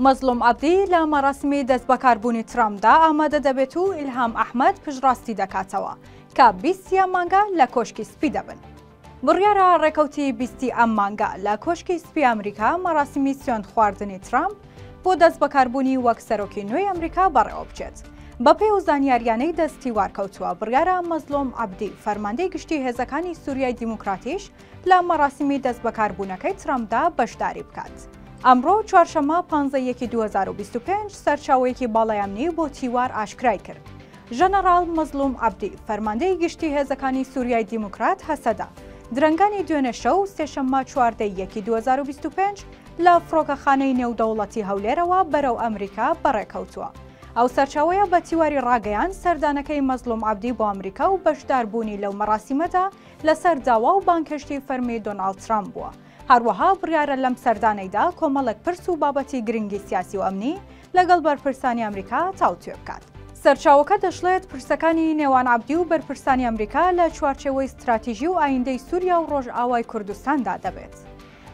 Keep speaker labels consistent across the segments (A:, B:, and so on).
A: مەزڵوم عەبدی لە مەراسمی دەستبەکاربوونی ترامپدا ئامادە دەبێت و ئیلهام ئەحمەد پشتڕاستی دەکاتەوە کە بیست ی ئەم مانگە لە کۆشکی سپی دەبن. بڕیارە ڕێکەوتی بیست ی ئەم مانگە لە کۆشکی سپی ئەمریکا مەراسیمی سوێندخواردنی ترامپ بۆ دەستبەکاربوونی وەک سەرۆکی نوێی ئەمریکا بەڕێوەبچێت. بەپێی ئەو زانیارییانەی دەستیوارکەوتووە، بڕیارە مەزڵوم عەبدی، فەرماندەی گشتی هێزەکانی سوریای دیموکراتیش لە مەراسیمی دەستبەکاربوونەکەی ترەمپدا بەشداری بکات. ئەمڕۆ چوارشەممە پانزە یەکی دوو هەزار و بیست و پێنج سەرچاوەیەکی باڵای ئەمنی بۆ تیوار ئاشکرای کرد، ژەنەڕاڵ مەزڵوم عەبدی، فەرماندەی گشتی هێزەکانی سوریای دیموکرات هەسەدە، درەنگانی دوێنێ شەو سێشەممە چواردە یەکی دوو هەزار و بیست و پێنج لە فڕۆکەخانەی نێودەوڵەتی هەولێرەوە بەرەو ئەمریکا بەڕێکەوتووە. ئەو سەرچاوەیە بە تیواری ڕاگەیاند، سەردانەکەی مەزڵوم عەبدی بۆ ئەمریکا و بەشداربوونی لەو مەراسیمەدا لەسەر داوا و بانگهێشتی فەرمی دۆناڵد ترەمپ بووە. هەروەها بڕیارە لەم سەردانەیدا کۆمەڵێک پرس و بابەتی گرنگی سیاسی و ئەمنی لەگەڵ بەرپرسانی ئەمریکا تاوتوێ بکات. سەرچاوەکە دەشڵێت، پرسەکانی نێوان عەبدی و بەرپرسانی ئەمریکا لە چوارچێوەی ستراتیژی و ئایندەی سووریا و ڕۆژئاوای کوردستاندا دەبێت.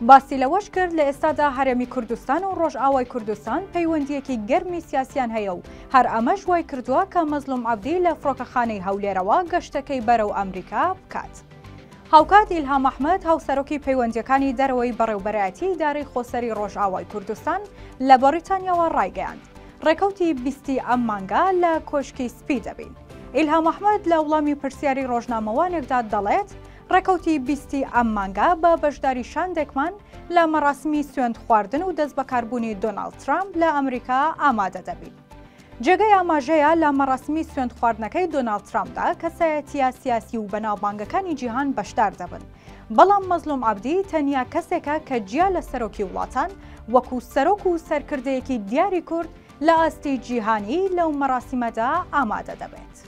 A: باسی لەوەش کرد، لە ئێستادا هەرێمی کوردستان و ڕۆژئاوای کوردستان پەیوەندییەکی گەرمی سیاسییان هەیە و هەر ئەمەش وای کردووە کە مەزلوم عەبدی لە فڕۆکەخانەی هەولێرەوە گەشتەکەی بەرەو ئەمریکا بکات. هاوکات ئیلهام ئەحمەد، هاوسەرۆکی پەیوەندییەکانی دەرەوەی بەڕێوبەرایەتی ئیدارەی خۆسەری ڕۆژئاوای کوردستان لە بەڕیتانیاوە ڕایگەیاند، ڕێکەوتی بیستی ئەم مانگە لە کۆشکی سپی دەبین. ئیلهام ئەحمەد لە وڵامی پرسیاری ڕۆژنامەوانێکدا دەڵێت، ڕێکەوتی بیستی ئەم مانگە بە بەشداری شاندێکمان لە مەراسمی سوێند خواردن و دەست بەکاربوونی دۆناڵد ترامپ لە ئەمریکا ئامادە دەبین. جێگەی ئاماژەیە لە مەراسمی سوێند خواردنەکەی دۆناڵد ترامپدا کەسایەتیە سیاسی و بەناوبانگەکانی جیهان بەشدار دەبن، بەڵام مەزلوم عەبدی تەنیا کەسێکە کە جیا لە سەرۆکی وڵاتان وەکو سەرۆک و سەرکردەیەکی دیاری کورد لە ئاستی جیهانی لەو مەراسیمەدا ئامادە دەبێت.